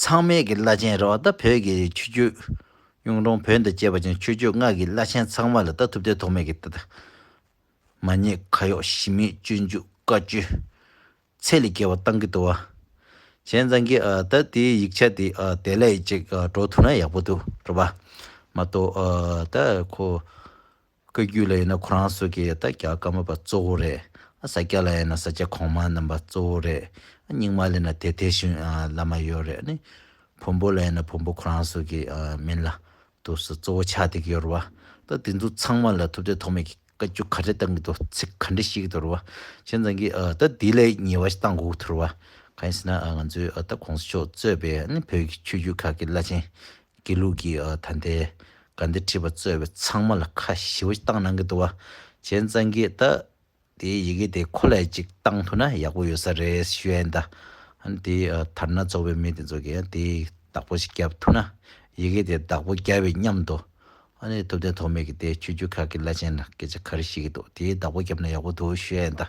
ཚང་མས་ཀྱི་བླ་ཆེན་ར་བ་ད་བོད་ཀྱི་ཆོས་རྒྱུད། གཡུང་དྲུང་བོན་དང་བཅས་པ་ཅན་ཆོས་རྒྱུད་སྔགས་ཀྱི་བླ་ཆེན་ཚང་མ་ལ་ལྟ་ཐུབ་བསྟན་ཐོག་མེད་ཀྱི། མ་ཉེས་ཁ་གཡོག་གཞི་མེད་སྤྱོད་འཇུག་བཀའ་བཅུ། ཚད་ལས་བརྒལ་བ་བཏང་གི་འདུག་བ། བྱས་ཙང་གི་ད་དེའི་ཡིག་ཆ་དེ་དེ་ལས་ཅིག་འགྲོ་ཐུབ་ན་ཡག་པོ་འདུག་རེད་བ། མ་གཏོགས་ད་ཁོ། བཀའ་རྒྱུད་ལ་ཡིན་ན་ཁོ་རང་སོ་གས་ད་རྒྱ་བཀའ་མ་པ་གཙོ་བོ་རེད། ས་སྐྱ་ལ་ཡིན་ན་ས་སྐྱ་གོང་མ་རྣམ་པ་གཙོ་བོ་རེད། རྙིང་མ་ལ་ཡིན་ན་དེ་དེ་བཞིན་བླ་མ་ཡོད་རེད། བོན་པོ་ལ་ཡིན་ན་བོན་པོ་ཁོ་རང་སོ་གས་མིན་ལ། དུ་སོ་གཙོ་བོ་ཆགས་འདེགས་ཡོད་རེད་བ། ད་དེ་ཚོ་ཚང་མ་ལ་ཐུབ་བསྟན་ཐོག་མེད་ཀྱི་བཀའ་རྒྱུད་ག་རེ་བཏང་གི་འདུག་ཚིག་ག་འདྲེ་ཤེས་ཀྱི་འདུག་རེད་བ། བྱས་ཙང་གི་ད་དེ་ལས་ཉེ་བ་ཞིག་བཏང་དགོས་ཀྱི་འདུག་རེད་བ། གང་ཡིན་ཟེར་ན་ང་ཚོའི་ད་གོང་ས་མཆོག་གཙོས་པའི་བོད་ཀྱི་ཆོས་རྒྱུད་ཁག་གི་བླ་ཆེན་དགེ་ལུགས་ཀྱི་ད་ལྟའི་དགའ་འདི་ཁྲིད་པ་གཙོས་པའི་ཚང་མ་ལ་ཁ་ཞེ་བོ་བཏང་གནང་གི་འདུག་བ། གཞན་གཙང་གིས་ད་དེའི་ཡི་གེ་དེ་ཁོ་ལས་ཅིག་བཏང་ཐུབ་ན་ཡག་པོ་ཡོད་ས་རེད་ཞུས་ཨེ་འདའ། ཧན་དེ་དར་ནག་ཚོགས་པའི་མི་དེ་ཚོ་གིས་དེ་བདག་པོ་ཞིག་བརྒྱབ་ཐུབ་ན་ཡི་གེ་དེ་བདག་པོ་རྒྱ་བའི་མཉམ་དུ་ཨ་ནི་ཐུབ་བསྟན་ཐོགས་མེད་ཀྱི་དེ་ཆོས་རྒྱུད་ཁག་གི་བླ་ཆེན་ལ་སྐད་ཆ་ག་རེ་བཤད་ཀྱི་འདུག་དེའི་བདག་པོ་བརྒྱབ་ན་ཡག་པོ་འདུག་ཞུས་ཨེ་འདའ།